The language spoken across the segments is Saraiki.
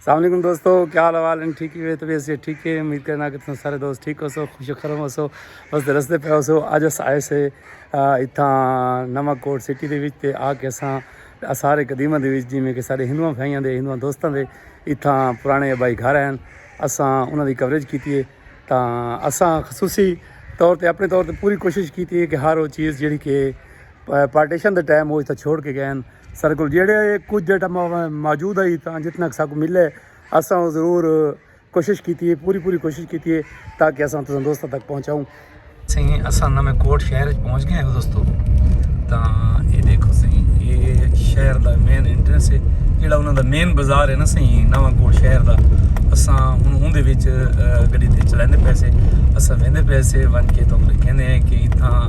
السلام علیکم دوستو کیا حال حوال ہیں ٹھیک ہے طبیعت سے ٹھیک ہے امید کرنا کہ تم سارے دوست ٹھیک ہو سو خوش خرم ہو سو بس رستے پہ ہو سو اج اس آئے سے اتھاں نواں کوٹ سٹی دے وچ تے آ کے اساں سارے قدیمہ دے وچ جی میں کہ سارے ہندوؤں بھائیاں دے ہندوؤں دوستاں دے اتھاں پرانے ابائی گھر ہیں اساں انہاں دی کوریج کیتی ہے تاں اساں خصوصی طور تے اپنے طور تے پوری کوشش کیتی ہے کہ ہر وہ چیز جڑی کہ پارٹیشن دے ٹائم وہ اتھاں چھوڑ کے گئے ہیں سارے کو جیڑے کچھ جیٹا موجود آئی تاں جتنا ساکو ملے اساں وہ ضرور کوشش کیتی ہے پوری پوری کوشش کیتی ہے تاکہ اساں تساں دوستوں تک پہنچاؤں سہیں اساں نمے کوٹ شہر پہنچ گئے ہیں دوستو تاں یہ دیکھو سہیں یہ شہر دا مین انٹرنس ہے جیڑا انہوں دا مین بازار ہے نا سہیں نمے کوٹ شہر دا اساں ہوں ہوں دے بیچ گڑی دے چلائیں دے پیسے اساں ویندے پیسے ون کے تو کہنے ہیں کہ اتھاں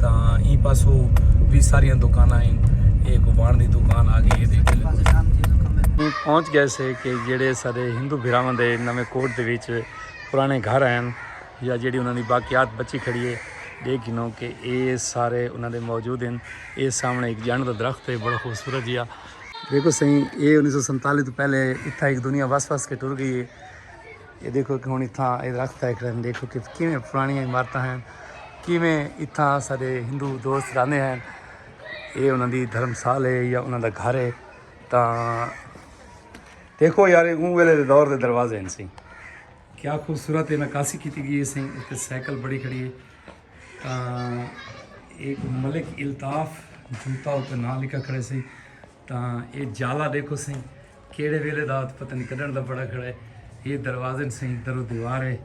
تاں ایں پاسو وی ساریاں دکاناں ہن اے کو وان دی دکان آ گئی ہے پہنچ گئے سے کہ جڑے سارے ہندو بھراواں دے نویں کوٹ دے وچ پرانے گھر ہیں یا جڑی انہاں دی باقیات بچی کھڑی ہے دیکھ گنو کہ اے سارے انہاں دے موجود ہیں اے سامنے ایک جنڈ دا درخت ہے بڑا خوبصورت جیا دیکھو سہی اے انیس سو سنتالی تو پہلے اتھا ایک دنیا وس وس کے ٹر گئی ہے اے ݙیکھو کہ ہݨ اتھاں اے درخت ہے کھڑے ہن ݙیکھو کہ کیویں پراݨیاں عمارتاں ہن کیویں اتھاں ساݙے ہندو دوست رہندے ہن اے انہاں دی دھرم سال ہے یا انہاں دا گھر ہے تاں دیکھو یار اوں ویلے دے دور دے دروازے ہن سی کیا خوبصورت ہے نکاسی کیتی گئی ہے سی اتنے سائیکل بڑی کھڑی ہے تاں ایک ملک الطاف جوتا اتنے نہ لکھا کھڑے سی تاں اے جالا دیکھو سی کیڑھے ویلے دا تے پتہ نہیں کڈن دا بڑا کھڑا ہے یہ دروازے نے سہی درو دیوار ہے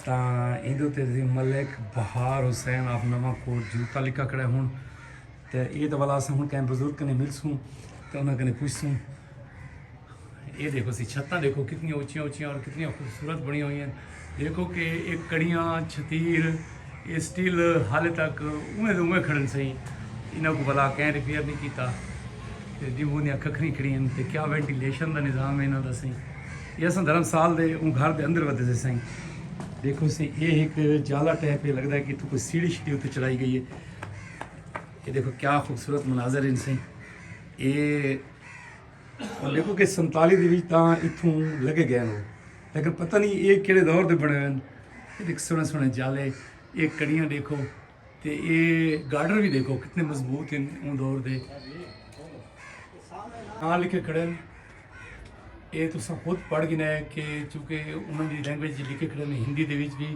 تاں ایندے تے عظیم ملک بہار حسین آپ نواں کوٹ جوتا لکھا کھڑا ہے ہن تے اے تے والا اساں ہن کہیں بزرگ کنے ملسوں تے انہاں کنے پوچھسوں اے دیکھو سی چھتاں دیکھو کتنی اونچیاں اونچیاں اور کتنی خوبصورت بنی ہوئی ہیں دیکھو کہ اے کڑیاں، چھتیر، اے سٹیل حالے تک اونویں دے اونویں کھڑن سئیں انہاں کوں بھلا کئیں ریپیئر نی کیتا تے جیووں دیاں ککھری کھڑی ہن تے کیا وینٹیلیشن دا نظام اے انہاں دا سئیں تے اساں دھرم سال دے اوں گھر دے اندر ودھے سے سئیں دیکھو سئیں اے ہک جالا ٹیپ اے لگدا اے کہ اتھوں کوئی سیڑھی شیڑھی اتے چڑھائی گئی اے اے دیکھو کیا خوبصورت مناظر ہن سئیں اے دیکھو کہ سنتالی دے وچ تاں اتھوں لگے گئے ہن لیکن پتہ نہیں یہ کیڑے دور دے بنے ہوئے ہیں یہ دیکھ سونے سونے جالے یہ کڑیاں دیکھو تے یہ گارڈر بھی دیکھو کتنے مضبوط ہیں ان دور دے ہاں لکھے کھڑے ہیں یہ تو سب خود پڑھ گنا ہے کہ چونکہ انہوں نے لینگویج لکھے کھڑے ہیں ہندی دے وچ بھی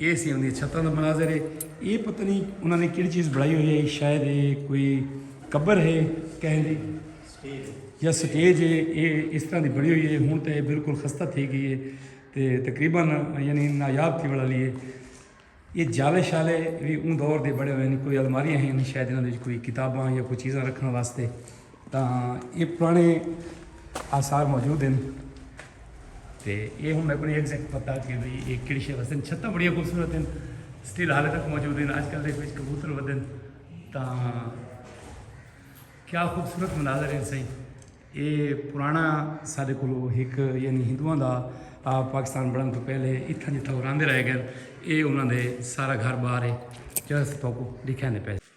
اے سی اوندیاں چھتاں دا مناظر ہے۔ اے پتہ نئیں انہاں نے کیڑی چیز بنڑائی ہوئی ہئی شاید اے کوئی قبر ہے کہیں دی یا سٹیج ہے اے اس طرح دی بنڑی ہوئی ہے ہن تے بالکل خستہ تھئی گئی ہے تے تقریبا یعنی نایاب تھیوݨ آلی ہے۔ اے جالے شالے وی اوں دور دے بنڑے ہوئے ہن کوئی الماریاں ہن شاید انہاں دے وچ کوئی کتاباں یا کوئی چیزاں رکھݨ واسطے۔ تاں اے پرانے آثار موجود ہن تے اے ہن میکو نہیں ایگزیکٹ پتہ کہ بھئی اے کیڑی شے واسطے چھتاں بڑیاں خوبصورت ہن سٹل حالے تک موجود ہن اج کل دے وچ کبوتر ودن تاں کیا خوبصورت مناظر ہیں سائیں اے پرانا سارے کولو ایک یعنی ہندوؤں دا پاکستان بڑھن تو پہلے اتھا جتھا اوراندے رہے گئے اے انہاں دے سارا گھر بار ہے جیسے تو کو دکھانے پہ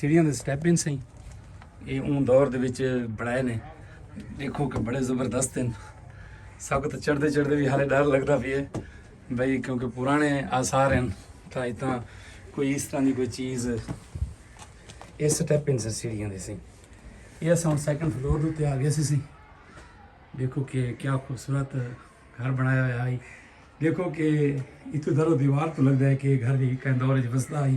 سیڑھیاں دے سٹیپ ہیں سائیں یہ اون دور دے وچ بڑھائے نے دیکھو کہ بڑے زبردست ہیں سب کو تو چڑھ دے چڑھ دے بھی حالے ڈر لگ دا بھی ہے بھئی کیونکہ پرانے آثار ہیں تا اتنا کوئی اس طرح دی کوئی چیز یہ سٹیپ ہیں سیڑھیاں دے سائیں یہ ساں سیکنڈ فلور دے آگے سے سائیں دیکھو کہ کیا خوبصورت گھر بنایا ہوا ہے دیکھو کہ اتو درو دیوار تو لگ جائے کہ گھر بھی کہیں دور جب بستا ہے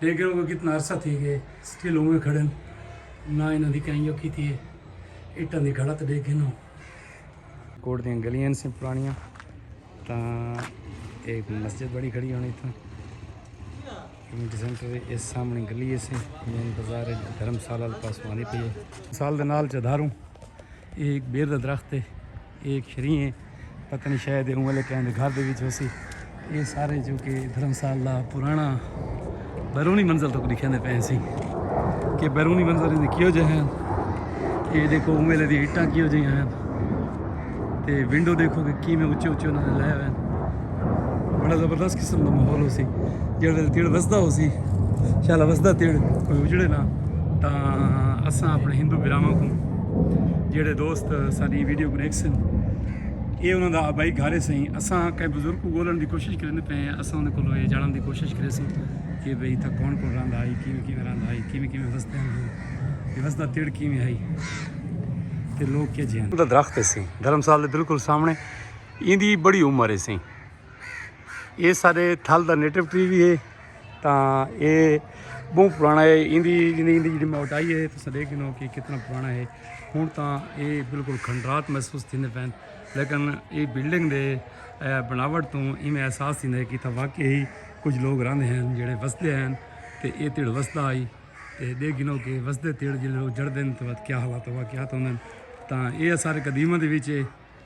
لیکن اوکوں کتنا عرصہ تھی گئے سٹل اوویں کھڑن نہ انہاں دی کہیں یو کیتی ہے اٹاں دی گھڑا تے ڈیکھ گھنو کوٹ دیاں گلیاں سے پرانیاں تاں ایک مسجد بڑی کھڑی ہونی تھا کمیونٹی سینٹر اس سامنے گلی سے مین بازار دھرم سالہ پاس پانی پی سال دے نال چدھاروں ایک بیر دا درخت ہے اے ہک شری ہیں پتہ نہیں شاید اے اوں والے کہیں دے گھر دے وچ ہوسی اے سارے جو کہ دھرم سال دا پرانا بیرونی منظر تک دکھیندے پئے سی کہ بیرونی منظر دے کیو جے ہیں اے دیکھو اوں والے دی اٹاں کیو جے ہیں تے ونڈو دیکھو کہ کیویں اچے اچے انہاں نے لائے ہوئے ہیں بڑا زبردست قسم دا ماحول ہو سی جڑ ویل تیڑ وسدا ہو سی شالا وسدا تیڑ کوئی اجڑے نہ تا اساں اپنے ہندو براواں کو جڑے دوست ساری ویڈیو کو دیکھ سن اے انہاں دا آبائی گھارے سیں اساں کئی بزرگ کو گولن دی کوشش کرنے پہ ہیں اساں انہاں کو جانن دی کوشش کرے سیں کہ بھئی تھا کون کون رہن آئی کیویں کیویں رہن آئی کیویں کیویں وسدے ہیں کہ وسدا تیڑ کیویں آئی تے لوگ کیا جی ہیں درخت سی دھرمسال دے بالکل سامنے ایندی بڑی عمر ہے سئیں اے سارے تھل دا نیٹو ٹری وی ہے تاں اے بہوں پرانا ہے ایندی جنی ایندی جڑی موٹائی ہے تساں دیکھ گنو کہ کتنا پرانا ہے ہن تاں اے بالکل کھنڈرات محسوس تھیندے پین لیکن اے بلڈنگ دے بناوٹ توں ایویں احساس تھیندا ہے کہ تھا واقعی ہی کچھ لوگ رہندے ہیں جڑے وسدے ہیں تے اے تیڑ وسدا آئی تے دیکھ گنو کہ وسدے تیڑ جڑے لوگ جڑدے ہیں تو کیا حالات واقعات ہوندے ہیں تاں اے سارے قدیمہ دے وچ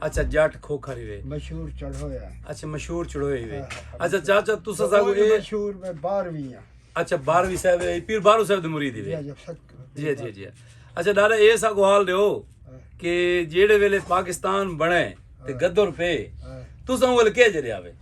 اچھا جٹ کھوکھر ہی وے مشہور چڑھوئے ہیں اچھا مشہور چڑھوئے ہی وے ہاں، ہاں، اچھا چاچا تو سزا کو اے مشہور میں باروی ہیں اچھا باروی صاحب ہے پیر بارو صاحب دے مرید ہی وے جی جی جی جی, جی۔ اچھا دادا اے سا کو حال دے ہو ہاں۔ کہ جیڑے ویلے پاکستان بنے تے گدر پے تو سا وہ لکے جے دے آوے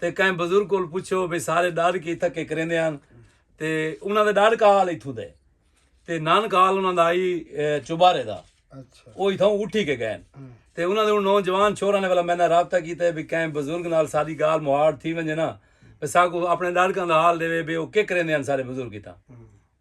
تے کہیں بزرگ کول پچھو بھئی سارے ڈاڈکے اتھاں کے کریندے ہن تے انہاں دا ڈاڈکا حال اتھوں دے تے نانکا حال انہاں دا آئی چوبارے دا او اتھاں اٹھی کے گئے تے انہاں دے نوجوان چھوراں نے والا میں نے رابطہ کیتا ہے بھئی کہیں بزرگ نال ساری گال مہاڑ تھی ونجے نا ساکو اپنے ڈاڈکاں دا حال دے وے بے او کے کریندے ہن سارے بزرگ اتھاں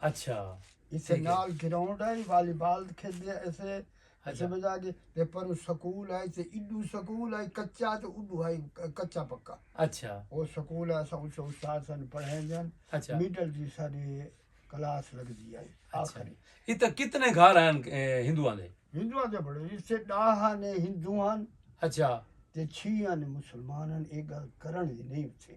اچھا اسے نال گراؤنڈ ہے والی بال کھیڈ دے اسے اسے بجا کے تے پر سکول ہے تے ایڈو سکول ہے کچا تے اڈو ہے کچا پکا اچھا او سکول ہے اسا اس استاد سن پڑھائیں جان اچھا میڈل جی سارے کلاس لگ دی ہے اچھا ایت کتنے گھر ہیں ہندوؤں دے ہندوؤں دے بڑے اس سے ڈاہا نے ہندوؤں اچھا تے چھیاں نے مسلمانن اے گل کرن نہیں تھے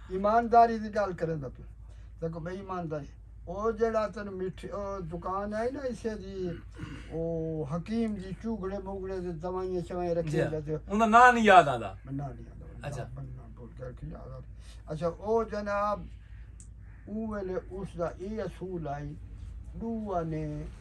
ایمانداری دی گالھ کریندا پیا تیکوں بے ایمانداری او جیڑا تینوں مٹھی او دکان آئی نا اسے دی او حکیم دی چوگڑے موگڑے دی دوائیاں شوائیں رکھے جی جی انہاں نا نہیں یاد آندا نا نہیں آندا اچھا بندہ بھول گیا کہ یاد آندا اچھا او جناب اوویلے اس دا اے اصول آئی ڈو آنے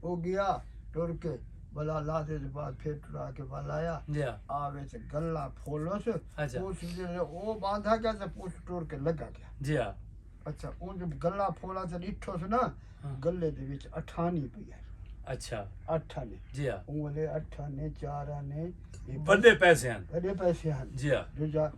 او گیا ٹر کے بلا لادے دے بعد پھر ٹرا کے ول آیا آ وچ گلاں پھولس پوس جیڑھے او باندھا گیا تے پوس ٹر کے لگا گیا اچھا اونج گلاں پھولا تے ڈٹھوس نا گلے دے وچ اٹھانی پئی آئی اچھا اٹھ آنے جی ہاں اوں ولے اٹھ آنے چار آنے بڑے پیسے ہن بڑے پیسے ہن جی ہاں